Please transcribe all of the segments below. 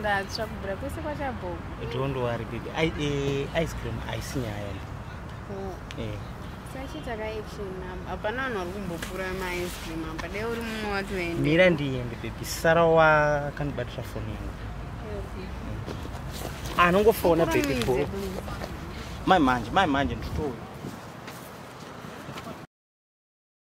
ndatsva kubvira kwese kwachabhogo don't worry baby I, uh, ice cream haisi nyaya oh. eh. sachita ka action nam hapana vanhu vari kumbopfura maice cream apa dai uri mumwe watoenda mira ndiende baby sara wakandibatira foni yangu ah, anongofona baby bo mai manje mai manje nditouya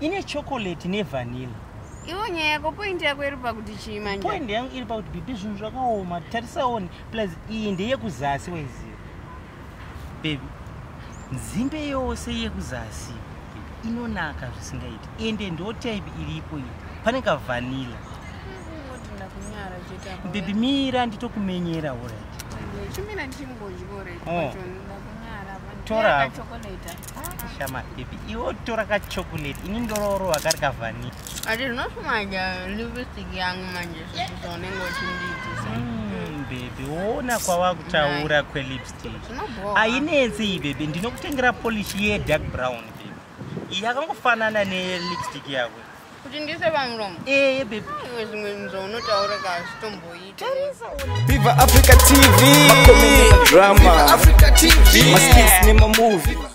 ine chocolate nevanilla iwo nyaya yako point yako iri pakuti chii manje point yangu iri pakuti bibi zvinhu zvakaoma tarisaoni plus iyi ndeyekuzasi waiziva bebi nzimbe yose yekuzasi inonaka zvisingaiti ende ndo type iripo iyi pane kavanila bebi mira nditokumenyera orit oh. tora shama baby iwo tora ka chocolate ini ndororo akari ka vanilla ati rinosumaja lipstick yangu manje sasa unenge uchindiitisa mm, baby woona kwava kutaura kwelipstick ainetsi iyi baby ndinokutengera polish ye dark brown baby iyi yakangofanana nelipstick yako kuti ndise pamuromo ee eh, baby iwe zvimwe nzvo unotaura ka zvitomboita viva africa tv makomedi drama africa tv maskis nemamovie